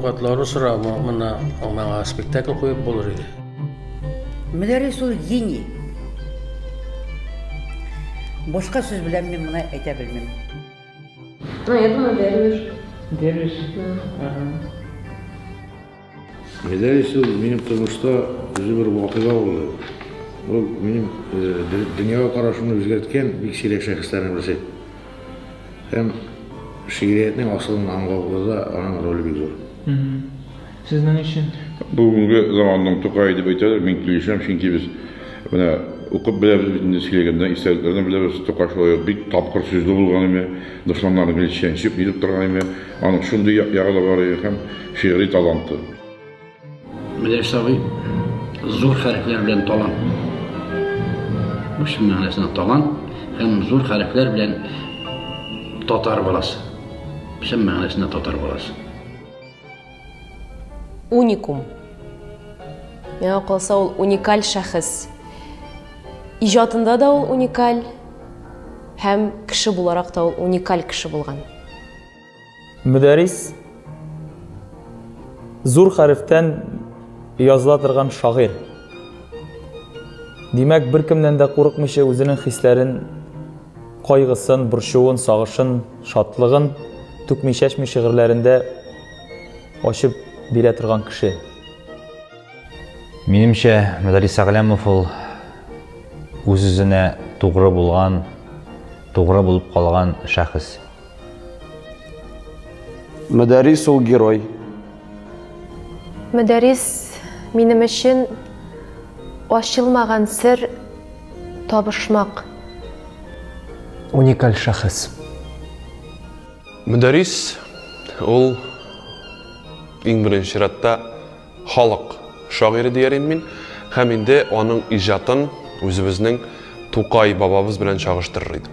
Авкатлары сора, мына маңа спектакль куеп булыр иде. Мөдәррис ул гений. Башка сүз белән мин моны әйтә белмим. Ну, я думаю, Дервиш. Дервиш? Да. Ага. Гәзәлис ул минем тормышта үзе бер вакыйга булды. Ул минем дөньяга карашымны үзгәрткән бик сирәк шәхесләрнең берсе. Һәм шигъриятнең асылын аңлауда аның роле бик зур. Сезнең өчен? Бүгенге заманның Тукай дип әйтәләр, мин килешәм, чөнки без менә укып беләбез бит инде сөйләгәндә, истәлекләрдән беләбез, Тукай шулай ук бик тапкыр сүзле булган име, дошманнарын гел чәнчеп, нитеп торган име, Аның шундый як ягы да бар иде һәм шигъри таланты. Менә сабый зур хәрефләр белән талант. Бу чын мәгънәсендә талант һәм зур хәрефләр белән татар баласы. Чын мәгънәсендә татар баласы. Уникум. Миңа калса ул уникаль шәхес. Иҗатында да ул уникаль һәм кеше буларак та ул уникаль кеше булган. Мөдәрис зур хәрефтән языла торган шагыйрь. Димәк, беркемнән дә курыкмыйча үзенең хисләрен, кайгысын, борчуын, сагышын, шатлыгын түкми-чәчми шигырьләрендә ачып бирә торган кеше. Минемчә, Мөдәрис Әгъләмов ул үз-үзенә тугры булган, тугры булып калган шәхес. Мөдәрис ул герой. Мөдәрис минем өчен ачылмаган сер табышмак. Уникаль шәхес. Мөдәрис ул иң беренче чиратта халык шагыйре диярем мин һәм инде аның иҗатын үзебезнең Тукай бабабыз белән чагыштырыр идем.